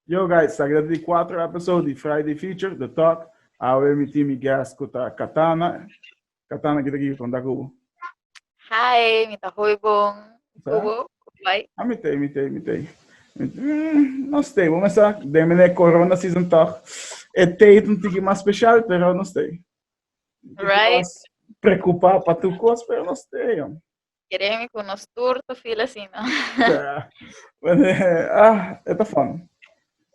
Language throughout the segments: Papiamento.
Yo guys, sa keda ta di cuatro episode di Friday Feature, The Talk. Awe mi tin mi guest cu ta Katana. Katana, kita kibi conta cu bo? Hi, mi ta hoi bon. Sa? Cu bo? Cu bai? A mi tei, mi tei, mi tei. Mi te- Mm, no stay, bo mesa, den mene corona season toch. E tei ta un tiki mas special, pero no stay. Right. Preocupa pa tu cos, pero no stay, jong. Kere mi ku nos tur ta fil asina. Bueno, ah, e ta fun.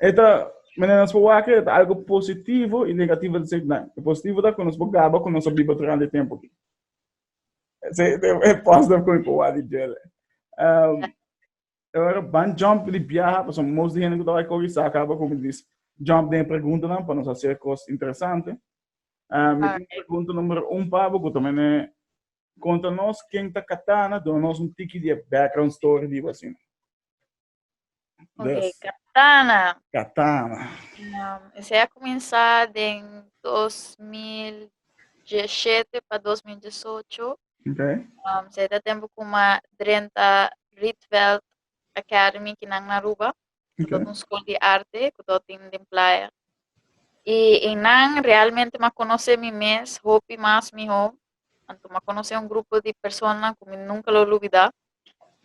E ta, menen nos por wak, e ta algo positivo i negativo at the same time. E positivo ta ku nos por gaba ku nos a biba tur handi tempu aki. Se, e positive ku mi por wak di Joel. Um, Ora ban jump di biaha, paso most di hende ku ta wak kogi sa akaba ku mi dis jump den preguntanan pa nos hacer kos interesante. Um, mi tin pregunta numero un pa bo ku ta menen Konta nos ken ta kata na duna nos un tiki di e background story di bo asina. Des. Katana. Katana. Um, esei a kuminsá den 2017 pa 2018. Okay. Um, sei ta tempo kuma drenta Rietveld Academy kinan na Aruba. Nan ta un school di arte cu do tin den playa. Y en nan realmente ma conoce mi mes hopi mas miho. Anto ma conoce un grupo di personanan cu mi nunca lo lubida.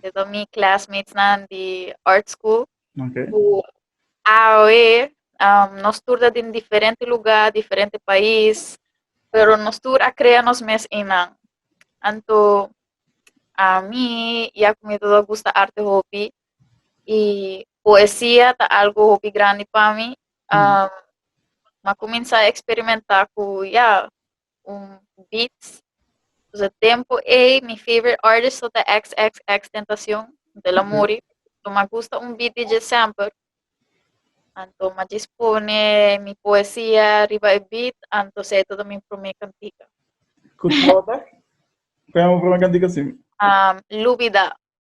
Setor mi classmates nan di art school. Okay. Cu awe um, nos tur ta den diferente lugar, diferente pais, pero nos tur a crea nos mes en nan. Anto a mi y a cu mi todo gusta arte hopi, y poesia ta algo hopi grandi pa mi um, ma comienza experimenta cu ya un beats dus e tempo ei mi favorite artist ta XXX Tentacion de la muri so ma gusta un beat di je semper anto ma jis pone mi poesia riba e beat anto sei todo mi prome cantica Cu trota? Cu é un problema cantica assim? um, lubida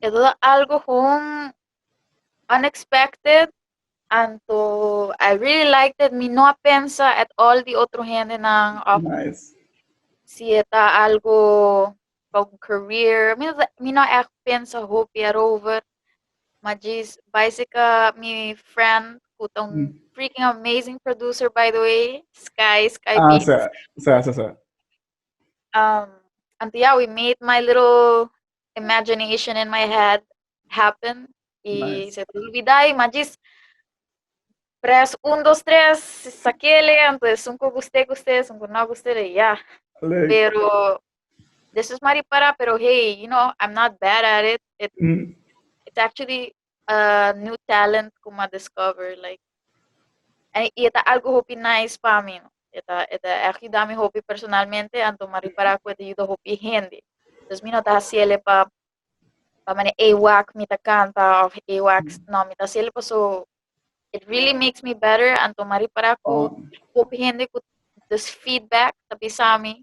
E ta algo gewoon unexpected anto I really liked it. Mi no a pensa at all di otro hendenan of Nice. si e ta algo pa un career. Mi no, ta- mi no echt pensa hopi erover. Maar jis, bicycle, mi friend, who ta un Mm. freaking amazing producer by the way, Sky, Sky Ah, Beats. sa, sa, sa, sa. Um, anti ya we made my little imagination in my head happen. Y nice. se te olvidai, ma jis press un, dos, tres, sakele, antes sun ko guste, guste, sun ko no guste, de ya. Leuk. Pero, this is mari para, pero hey, you know, I'm not bad at it. It, mm. it actually uh, new talent ku ma discover like en i eta algo hopi nice pa mi no eta eta echt yuda mi hopi personalmente anto ma ripara ku eta yuda hopi hende dus mi no ta hasiele pa pa mane e wak mi ta kanta of e wak no mi ta hasiele pa so it really makes me better anto ma ripara ku Oh, hopi hende ku dus feedback ta bisa mi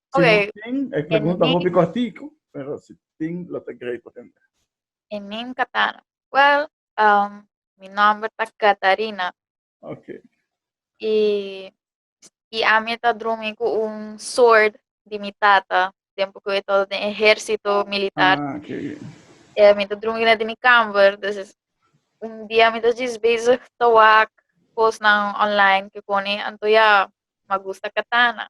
Si no Okay. tin, e pregunta Ene. hopi cortico, pero si tin lo ta great pa tende. E nin Katana. Well, um, mi nomber ta Katarina. Ok. Y, y ami ta drumi cu un sword di mi tata, tiempo cu e todo den ejercito militar. Ah, ok. Eh, mi ta drumi na di mi kamer, dus es un dia mi ta jis bezig ta wak kosnan online ke koni, anto ya, ma gusta katana.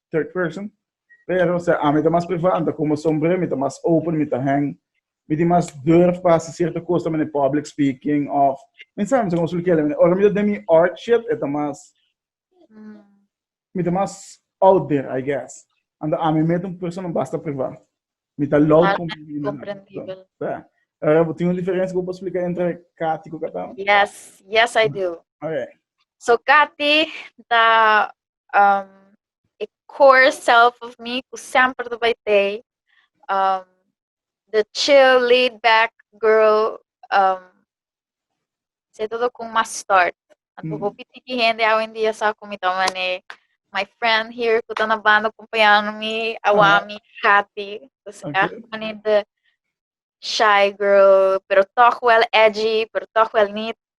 third person pero se a mi ta mas privado como sombre mi ta mas open mi ta hang mi tin mas durf pa hacer cierto cosa mene public speaking of mi sabe como solo quiero mene ora mi ta mi art shit eta mas mi ta mas out there I guess ando a mi met un persona basta privado mi ta loud como mi comprendibel yeah. Ora, tem uma diferença que eu posso explicar entre Kati e Catão? Yes, yes I do. Okay. So Kati, da um, e core self of me ku semper ta bai tei um, the chill laid back girl um, se todo ku mas start anto mm. hopi tiki hende awe en dia sa ku mi ta mane my friend here ku ta na banda acompañando mi awami uh -huh. Katy dus okay. echt mane de shy girl pero toch wel edgy pero toch wel niet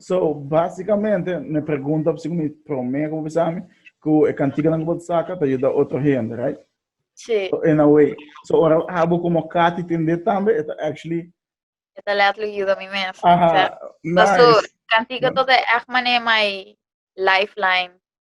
So, básikamente, no e pregunta por si ku mi promé ku bo bisa mi ku e kantiganan ku bo ta saka ta yuda otro hende, right? Sí. So, in a way. So, ora abo komo Katty tende tambe, e ta actually, E ta letterlijk yuda mi mes. aha, Sa su nice. kantiga tot e echt mané mai lifeline.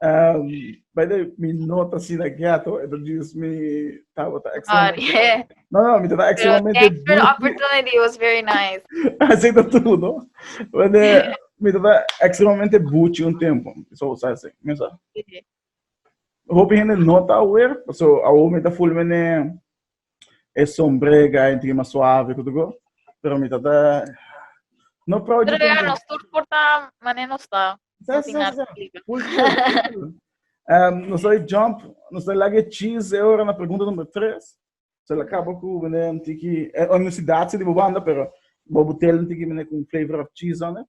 By the way, mi no ta sin a ghetto, e por dios mi tabo ta extremamente... No, no, mi ta ta extremamente... Pero thanks for the opportunity, it was very nice. Así ta tu, no? Wende, mi ta ta extremamente buchi un tempo, so sa se, mi sa. Hopi hende no ta aware, so awo mi ta full mene e sombrega en trima suave ku tuko pero mi tata no proud pero ya nos tur porta mané nos ta sa sa sa um no soy jump no soy lage cheese e ora na pregunta number 3 so la kaba ku mané tiki e universidad si di banda pero bobo telen tiki mané ku flavor of cheese on it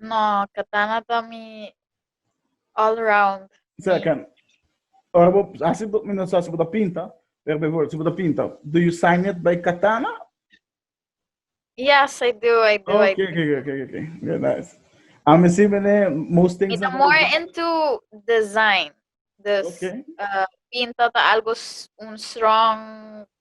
No, katana ta mi all round. Sea ken. Ora bo hasi do, mi no sa si bo ta pinta, pero before si bo ta pinta, do you sign it by katana? Yes, I do, I do, I Okay, do. okay, okay, okay. Very nice. A mi si mene most Mi things ta na more book. into design. Dus Okay. uh, pinta ta algo s- un strong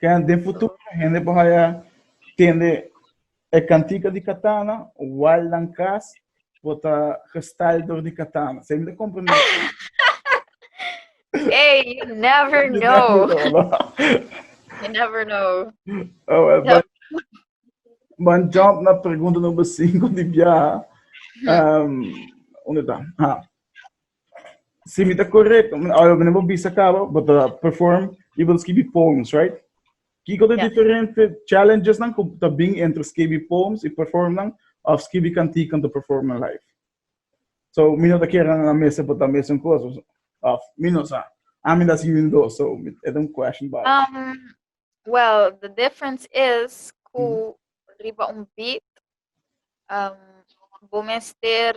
Ken den futuro hende por haya tende e cantica di katana, wal nan cas por ta gestal door di katana. Sa mi ta comprende. Hey, you never know. You never know. Oh, well, Help. but, but jump na pregunta number 5 di biaha. Um, onde está? Ah. Si mi ta correct, ora mi bo bisa cabo, bo ta perform y bo escribi poems, right? Kiko de yeah. diferente challenges nan ta bin entre escribi poems y perform nan of escribi cantico en te perform nan live? So, mi no ta kera na mesa bo ta mesa un cosa. Of, mi no sa. A mi da si mi do, so, it un question about um, Well, the difference is ku mm. riba un beat um, bo mester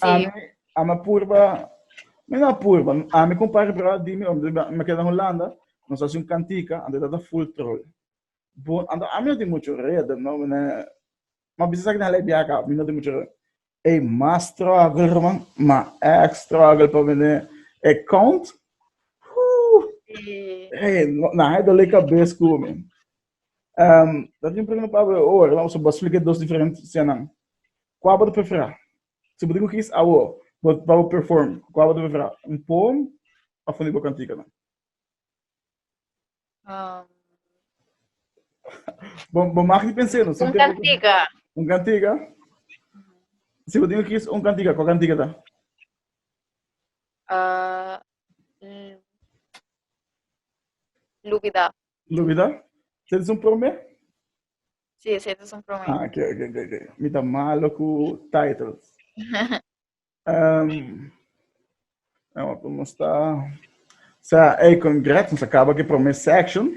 Ami, ami purba, mi no purba, ami con par brother di mi, me queda en Holanda, nos hace un cantica, ante tata full troll. Bon, ante ami no tiene mucho red, no, me, ma bisa sa que na lebia acá, mi no tiene mucho red. Ei, mas struggle, herman, ma ek struggle pa vender account. Hey, na hai dole cabeza ku mi. Ehm, dat tin prende pa awe ora, la oso bos flike dos diferent senan. Kua bo ta prefera? Si bo tin ku kis awo, bo pa bo perform, kua bo ta prefera? Un poem of un di bo kantikanan? Um, Bo, bo mag di pensé, no? un kantika. Un kantika? Si bo tin ku kis un kantika, kua kantika ta? Uh, mm, Lubida. Lubida, se es un prome? Si, sí, se es un prome. Ah, ok, ok, ok. okay. Mi ta malo ku titles. um, nou, como está? Sa, hey, congrats, nos acaba que prome section.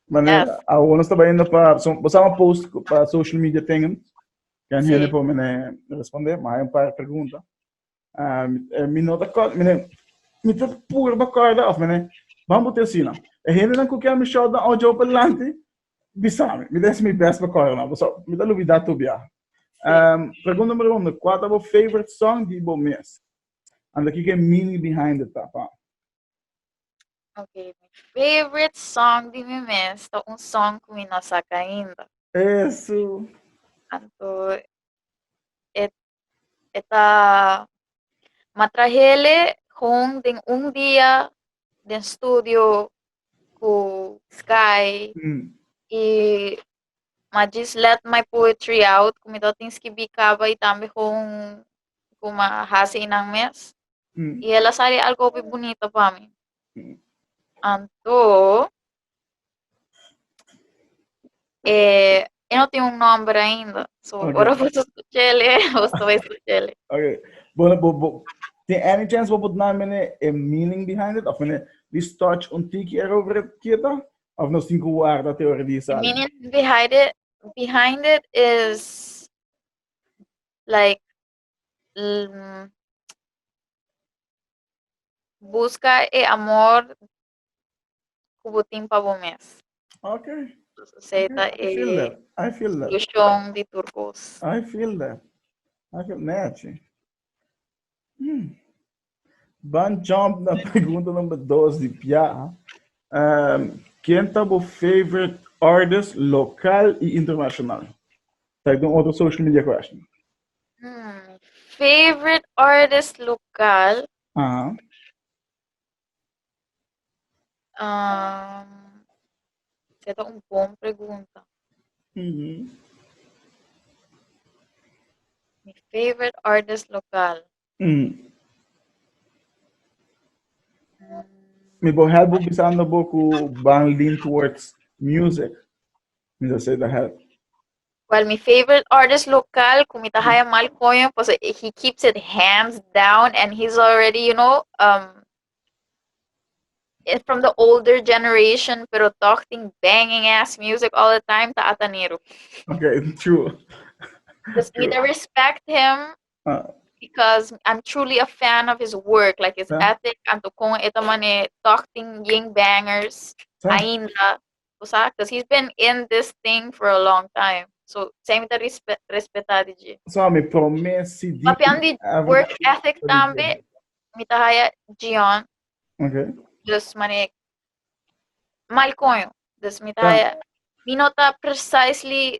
Mane, yes. ahora nos estaba yendo para, so, vos a post para social media tengan. Kan sí. hele po mene responde, maar een paar pregunta. Ah, eh, mi nota kort, mene, mi te puro ba korda of mene, ban bote sina. E hende nan kukia mi shot dan ojo pa lanti, bisami. Mi des mi best ba korda na, so mi ta lubida tu bia. Um, pregunta numero uno, kwa ta bo favorite song di bo mes? Anda kike mini behind the tapa. Okay, my favorite song di mi mes ta un song ku mi no saka ainda. Eso. Anto, e E ta matra hele hon den un dia den studio ku Sky mm. i ma just let my poetry out ku mi tin skibi kaba i tambe hon ku ma hasi inan mes mm. i ela sali algo hopi bonito pa mi mm. anto Eh, él no tiene un nombre ainda. So, okay. ahora vos escuchele, vos no escuchele. Okay. Bueno, bo, bo, tiene any chance vos put naam mene a meaning behind it? Of mene, this touch un tiki erover het kieta? Of no sin guarda theorie die sal? Meaning behind it, behind it is like um, busca e amor ku bo tin pa bo mes. Ok. Entonces, okay. ta I feel that. I feel that. Solution di tur kos. I feel that. I feel Nachi. Hmm. Ban jump na pregunta number dos di Pia. Um, ken ta bo favorite artist local i international? Ta ik otro social media question. Hmm. Favorite artist local? Uh -huh. Um, se ta un bon pregunta. Mm -hmm. Mi favorite artist local. Mm. Mi bo help u pisando bo ku ban lean towards music. Mi sa se ta help. Well, mi favorite artist local, ku mi ta haya mal koño, paso he keeps it hands down and he's already, you know, um, eh, from the older generation, pero toch ting banging ass music all the time, ta Atanero. Okay, true. Just me to respect him Ah, because I'm truly a fan of his work, like his Yeah. ethic, and to con eta mane toch ting ying bangers, Sa. ainda, bo sa cuz he's been in this thing for a long time so sei mi ta respet respeta di dje so mi prome cd papian di work ethic tambe mi ta haya Gion okay dus mane mal coño dus mi ta haya mi no ta precisely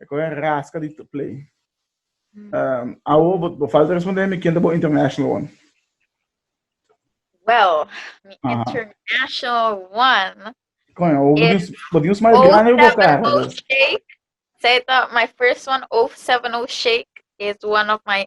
E kore raska di to play. Um, awo, bo, bo falta responder mi ken ta bo international one. Well, mi Aha. international one. Coño, o It's Bodinus mais grande bo cara. Shake. Say that my first one, 070 Shake, is one of my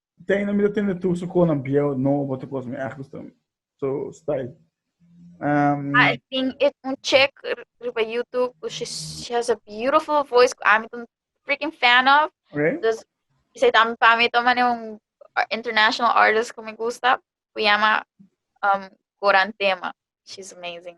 Tem na mi ta tende tur su konan bieu, no bote kos mi ergens tem. So, stay. Um, I think it's un check riba YouTube. She, she has a beautiful voice. I'm a freaking fan of. Okay. Dus, isa tam pa mi toma ne un international artist que me gusta. Se llama um, Gorantema. She's amazing.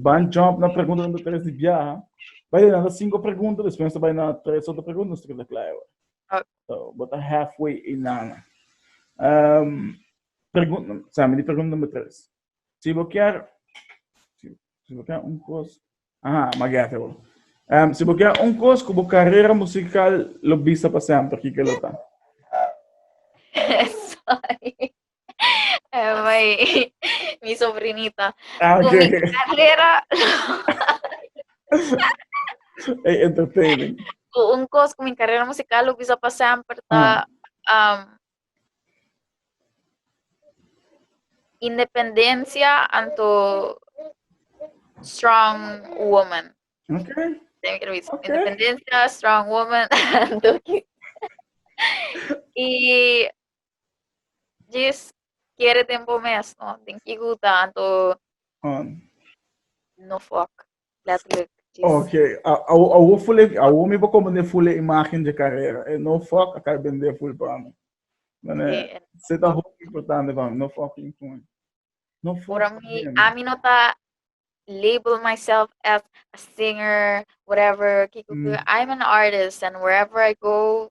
Ban jump na pregunta number tres di biaha. Bai den na cinco pregunta, despues ta bai na tres otro pregunta, nos ta keda kla awe. Ah. So, bo ta halfway i nana. Um, pregunta, sami di pregunta number tres. Si bo kier, si, si bo kier un kos, aha, magete bo. Um, si bo kier un kos ku bo karera musikal lo bisa pa semper, kike lo ta? Sorry. Ay, mi sobrinita. Ah, Con mi okay. carrera, Hey, entertaining. cu un cos con mi carrera musical, lo bisa pa semper ta um, independencia anto strong woman. Okay. Tem que revisar. Ok. Independencia, strong woman, anto que- y Jis, kere den bo mes, no? Den ki gu tanto... Um. No fok, letterlijk. Ok, awo fule, awo mi bo kom ne fule imagen de carrera. E no fok, akai bende ful pa mi. Mane, se ta hop importante pa mi, no fok in kun. No fok. Ora mi, a mi no ta label myself as a singer, whatever, kiko, mm. I'm an artist and wherever I go,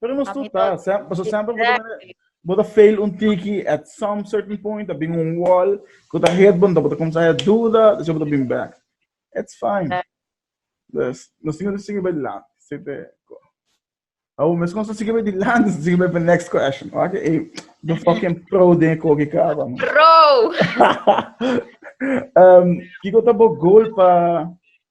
Pero nos tu ta, paso sempre bota fail un tiki at some certain point, abin un wall, ku ta hit bon, bota komsa ya duda, dus bota bin back. It's fine. Dus, nos tingo sige bij land. Sete, ko. Awo, mes kon sige bij die land, sige bij next question. Oké, okay, the fucking pro den kogi kaba. Pro! um, kiko tabo goal pa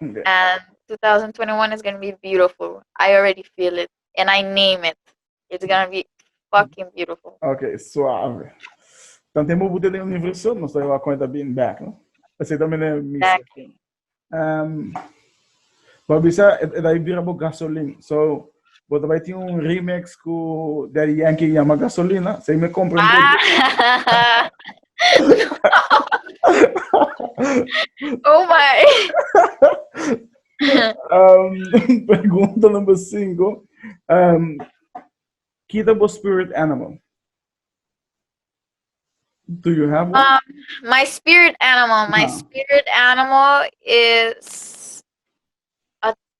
And 2021 is gonna be beautiful. I already feel it. And I name it. It's gonna be fucking beautiful. Okay, suave. Dan temo boete den universo, no sta iwa cuenta being back, no? Así también es mi. Exactly. Um, Babisa, e da ibira bo gasolin. So, Bo ta bai tin un remix ku Daddy Yankee llama Gasolina, sei me compra un ah. oh my. um, pergunta number 5. Um, kita bo spirit animal. Do you have one? Um, my spirit animal. My uh -huh. spirit animal is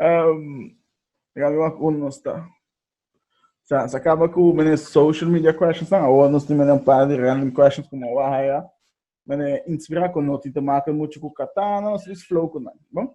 um, Gabi wak un no sta. Sa, sa acaba com mene social media questions na agora nós temos um par de random questions como o ahaya. Mene inspira com noti te marca muito com katana, nós is flow com nan. Bom?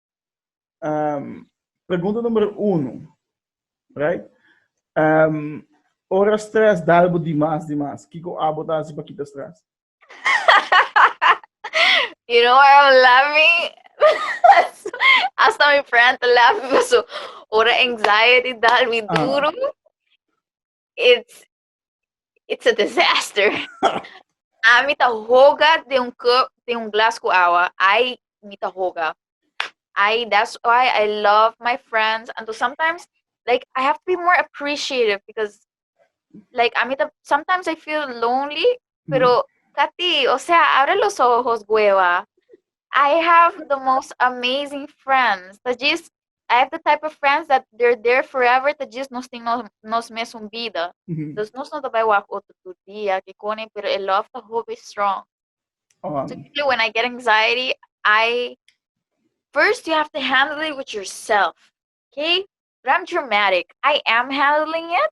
Um, pregunta número uno, right? Um, ora stress dalbo dimas dimas, kiko abo ta hasi pa kita stress? you know why I'm laughing? Hasta mi friend te laughing, so ora anxiety dal mi ah. duro. Uh. It's it's a disaster. a mi ta hoga de un cup, de un glas cu agua. Ay, mi ta hoga. Ay, that's why I love my friends. And so sometimes, like, I have to be more appreciative because, like, a mi ta, sometimes I feel lonely, mm-hmm. pero, Katy, o sea, abre los ojos, hueva. I have the most amazing friends. That just, I have the type of friends that they're there forever ta djis nos tin nos, nos mesun bida. Mhm. Dus nos no ta bai wak otro tur dia, ke kone, pero e love ta hopi strong. Oh, So usually when I get anxiety, I first you have to handle it with yourself. Okay? But I'm dramatic. I am handling it,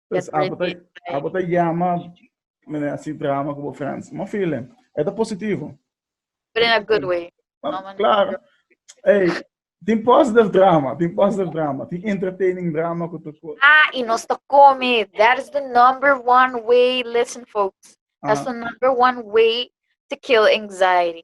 Pues abo ta, abo ta llama meneer así drama como friends. Mo feeling. Es ta positivo. But in a good way. Ah, claro. Hey, tin positive drama, tin positive drama, tin entertaining drama ku tu ko. Ah, y nos ta come. That is the number one way. Listen, folks. That's the number one way to kill anxiety.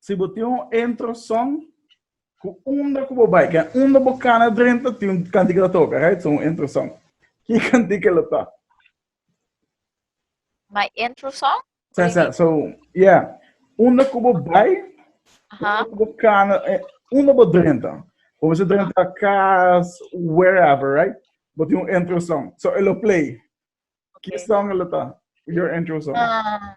Si bo tin un intro song cu unda cu bo bay ken unda bo cana drenta tin un cantica ta toca right so un intro song ki cantica lo ta? My intro song? Sa, sa, so, yeah. Unda ku bo bai, unda ku bo kana, eh, unda bo drenta. Bo bisa drenta kas, wherever, right? Bo tin un intro song. So, elo play. Ki song elo ta? Your intro song. Ah,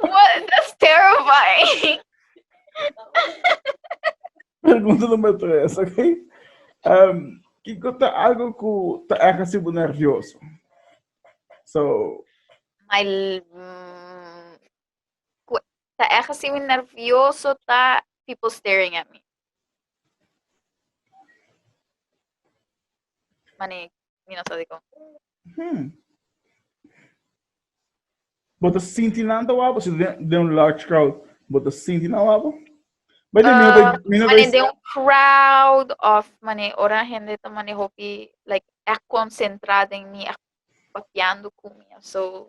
What? That's terrifying. Pergunta number tres, ok? Um, que conta algo que tá erra se nervioso. So. My. Mm, tá erra se nervioso tá people staring at me. Mané, mi no sa di kon. Hmm. Bo ta sinti nan ta wabo? Si den, den un large crowd, bo ta sinti nan wabo? Bai de mino bai, mino Mane bai, de un crowd of mane ora hende ta mane hopi like ek concentrada en mi ek papiando cu mi so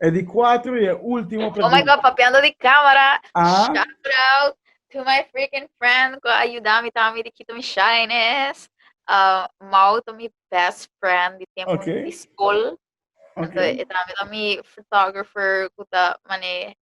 E di cuatro y e último pregunta. Oh my god, papiando di cámara. Ah. Shout out to my freaking friend cu ayuda mi tami di Quito mi shyness. Uh, Mau to mi best friend di tiempo okay. di school. Okay. Entonces, mi photographer cu ta mane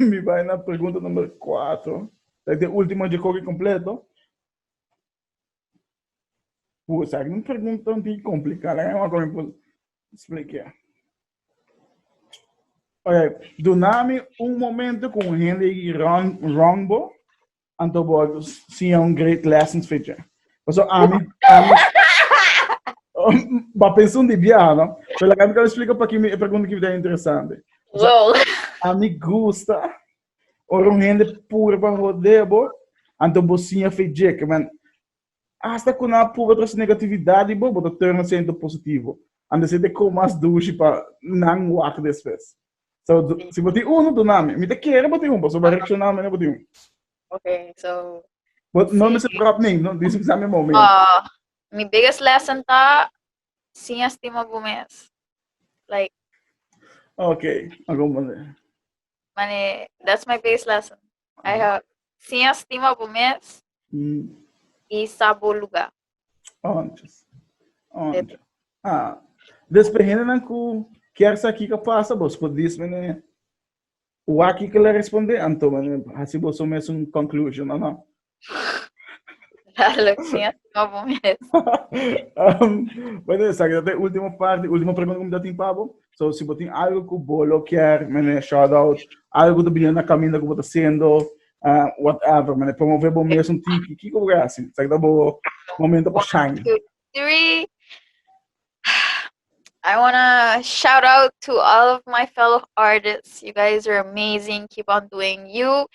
Mi bai na pregunta number kuater. Esaki ta e ultimo dje koki kompleto. Pu, esaki un pregunta un poco komplikado. Laga mi wak kon mi por splikia. Ok, dunami un momento ku un hende yiki rònt rònt bo Anto bo siña un great lessons for je. Paso ami, ami ba pensa un di bia, no? Pero la mi kan explica pa kimi e pregunta ki bida interesante. Wow. Ami gusta ora un hende pur pa hodebo, anto bo siña fe je, que man, Hasta cu nan a pruba trece negatividad di bo, bo ta turn asina into positivo. Anda si te con mas dushi pa nan wak despues. So, du- Okay. si bo tin uno, duna mi. Mi te kere bo tin un, paso bo a reacciona mi na bo tin un. Ok, so. But no Sí. mi se prop ning, no, di sa mi mou mi. ah, mi biggest lesson ta sin estima bu mes. Like, Ok, algun manera. mane, that's my biggest lesson. Ai ha siña stima bo mes Mm. i sa bo lugá. Onchas. Onchas. Ah. Despe hendenan ku kier sa kiko pasa, bos por dis mene waki ke la responde, anto mene hasi boso mes un conclusion, o no? Dale, siña stima bo mes. Um, bueno, sa kita te ultimo parti, ultimo pregunta ku mi ta tin pa bo. So si bo tin algo ku bo lo kier mene shout out, algo ku ta bini na kaminda ku bo ta hasiendo, uh, whatever, mene promover bo mes un tiki, ki ku bo kier hasi? Sa kita bo momento pa shine. Three. I want to shout out to all of my fellow artists. You guys are amazing. Keep on doing you.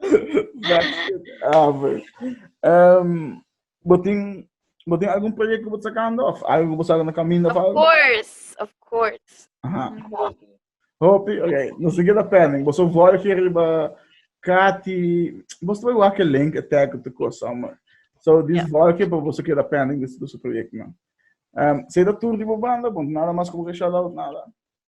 Brexit over. Um, botin, botin algún proyecto que vos sacando? Of algo que vos sacando camino? Of, of course, of course. Ajá. Hopi, ok. No sé qué está pending. Vos sos voy que arriba Kati. Vos trae igual que link attack op de cosa, man. So, this yeah. voy que vos sos que está pending de su proyecto, man. Um, se da tour de banda, want nada más como que shout out, nada.